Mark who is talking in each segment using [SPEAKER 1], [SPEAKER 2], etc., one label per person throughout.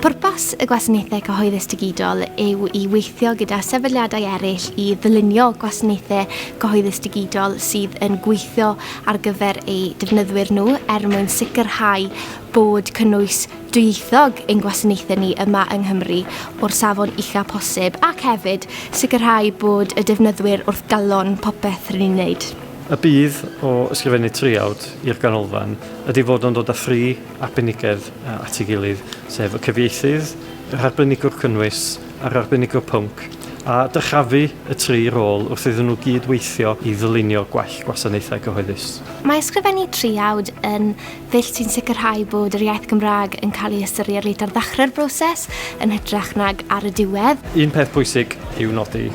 [SPEAKER 1] Pwrpas y Gwasanaethau Cyhoeddus Digidol yw i weithio gyda sefydliadau eraill i ddylunio gwasanaethau cyhoeddus digidol sydd yn gweithio ar gyfer eu defnyddwyr nhw er mwyn sicrhau bod cynnwys dwyieithog ein gwasanaethau ni yma yng Nghymru o'r safon ucha posib ac hefyd sicrhau bod y defnyddwyr wrth galon popeth rydyn ni'n wneud. Y budd
[SPEAKER 2] o ysgrifennu traeawd i'r ganolfan ydy fod o'n dod â thri arbenigedd at ei gilydd, sef y cyfieithydd, yr arbenigwr cynnwys a'r arbenigwr pwnc, a dyrchafu y tri rôl wrth iddyn nhw gyd weithio i ddylunio gwell gwasanaethau cyhoeddus. Mae ysgrifennu
[SPEAKER 1] traeawd yn ddull sy'n sicrhau bod yr iaith Gymraeg yn cael ei ystyried reit ar ddechrau'r broses yn hytrach nag ar y diwedd. Un peth pwysig
[SPEAKER 2] i'w nodi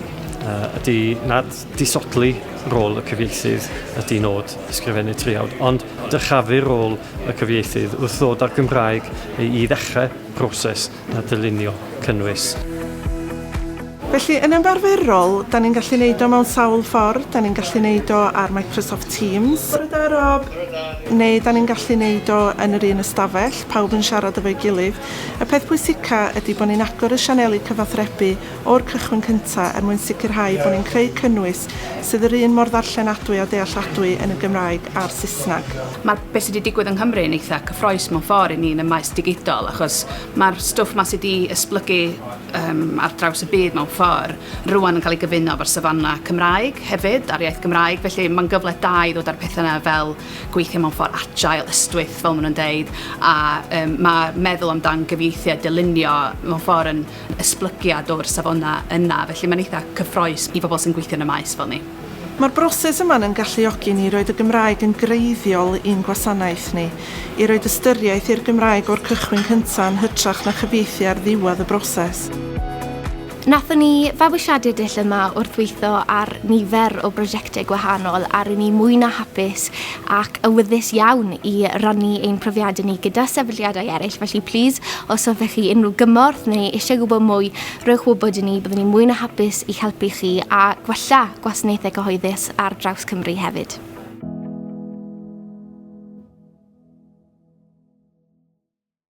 [SPEAKER 2] ydy nad Disodli rôl y cyfieithydd ydy nod ysgrifennu traethawd, ond dyrchafu rôl y cyfieithydd wrth ddod â'r Gymraeg i ddechrau proses na dylunio cynnwys.
[SPEAKER 3] Felly, yn ymarferol, da ni'n gallu neud o mewn sawl ffordd, da ni'n gallu neud o ar Microsoft Teams, Bore da, Rob! neu da ni'n gallu neud o yn yr un ystafell, pawb yn siarad efo'i gilydd. Y peth pwysica ydy bo' ni'n agor y sianeli cyfathrebu o'r cychwyn cyntaf er mwyn sicrhau bod ni'n creu cynnwys sydd yr un mor ddarllenadwy a dealladwy yn y Gymraeg a'r Saesneg. Mae beth sydd wedi
[SPEAKER 4] digwydd yng Nghymru yn eitha' cyffroes mewn ffordd i ni yn y maes digidol achos mae'r stwff 'ma sydd wedi esblygu yym ar draws y byd mewn ffordd rŵan yn cael ei gyfuno efo'r safona' Cymraeg hefyd a'r iaith Gymraeg felly mae'n gyfle da i ddod â'r pethau 'na fel gweithio mewn ffordd agile, ystwyth fel maen nhw'n deud a yym mae meddwl amdan gyfieithu a dylunio mewn ffordd yn esblygiad o'r safona yna, felly mae'n eitha' cyffroes i bobl sy'n gweithio yn y maes fel ni. Mae'r broses
[SPEAKER 3] yma yn galluogi ni i roid y Gymraeg yn greiddiol i'n gwasanaeth ni, i roid ystyriaeth i'r Gymraeg o'r cychwyn cyntaf yn hytrach na chyfieithu ar ddiwedd y broses.
[SPEAKER 1] Nathon ni fabwysiadu dull yma wrth weitho ar nifer o brosiecte gwahanol a ry'n ni mwy na hapus ac awyddus iawn i rannu ein profiadau ni gyda sefydliadau eraill, felly plîs, os hoffech chi unrhyw gymorth neu eisiau gwybod mwy, rhowch wybod i ni, byddwn ni'n mwy na hapus i'ch helpu chi a gwella gwasanaethau cyhoeddus ar draws Cymru hefyd.